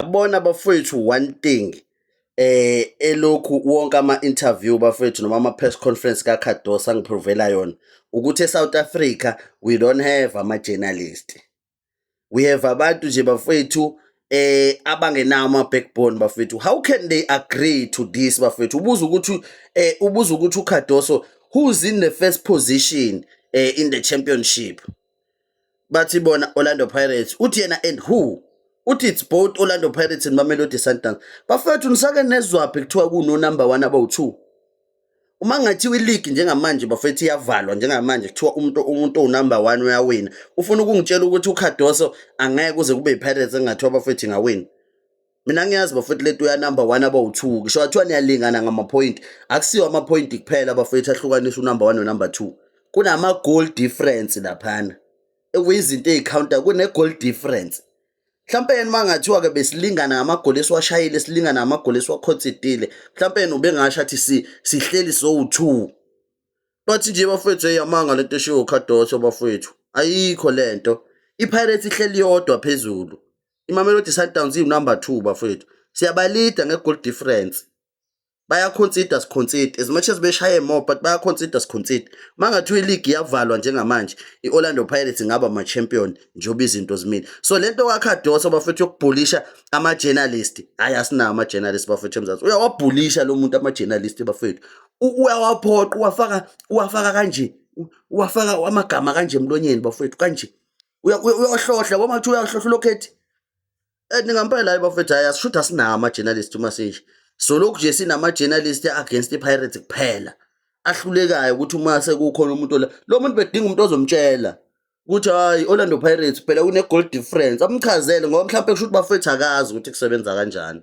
Yabona bafowethu one thing eh elokhu wonke ama interview bafowethu noma ama press conference ka Cardosa ngiprovela yona ukuthi eSouth Africa we don't have ama journalist we have abantu nje bafowethu eh abangenawo ama backbone bafowethu how can they agree to this bafowethu ubuza ukuthi eh ubuza ukuthi uCardoso who's in the first position eh in the championship bathi bona Orlando Pirates uthi yena and who uthi it's both Orlando Pirates and Mamelodi Sundowns bafethu nisake nezwaphi kuthiwa kuno number 1 abawu2 uma ngathiwa ileague njengamanje bafethu iyavalwa njengamanje kuthiwa umuntu umuntu onumber 1 uyawina ufuna ukungitshela ukuthi uCardoso angeke kuze kube iPirates engathiwa bafethu ingawina mina ngiyazi bafethu lento ya number 1 aba u2 ngisho athiwa niyalingana ngama point akusiwa ama point kuphela bafethu ahlukanisa unumber 1 no number 2 kunama goal difference laphana ekuyizinto ezicounter kune goal difference mhlawumbe yena mangathiwa ke besilingana ngamagoli esiwashayile silingana ngamagoli esiwakhonsidile mhlawumbe yena ubengasho athi si sihleli sowu2 bathi nje bafethu eyamanga lento eshiwo uCardoso bafethu ayikho lento iPirates ihleli yodwa phezulu imamelodi sundowns iwunumber two bafowethu siyabalida nge-goal difference bayaconsider siconsider as much as beshaye more but bayaconsider siconsider uma ngathi iligi iyavalwa njengamanje i-orlando pirates ingaba ma-champion njengoba izinto zimile so le nto kwakhadosa bafethu yokubhulisha ama-journalist hhayi asinawo ama-journalist bafethu emzansi uyawabhulisha lo muntu ama-journalist bafethu uyawaphoqa uwafaka uwafaka kanje uwafaka amagama kanje emlonyeni bafethu kanje uyohlohla boma kuthiwa uyohlohla ulokhethi eh, ningampela hayi bafethu hayi asishuthi asinawo ama-journalist uma sisho solokhu nje sinama-journalist against i-pirates kuphela ahlulekayo ukuthi uma sekukhona umuntu ola lo muntu bedinga umuntu ozomtshela ukuthi hayi orlando pirates phela une-goal difference amchazele ngoba mhlawumpe kusho ukuthi bafethu akazi ukuthi kusebenza kanjani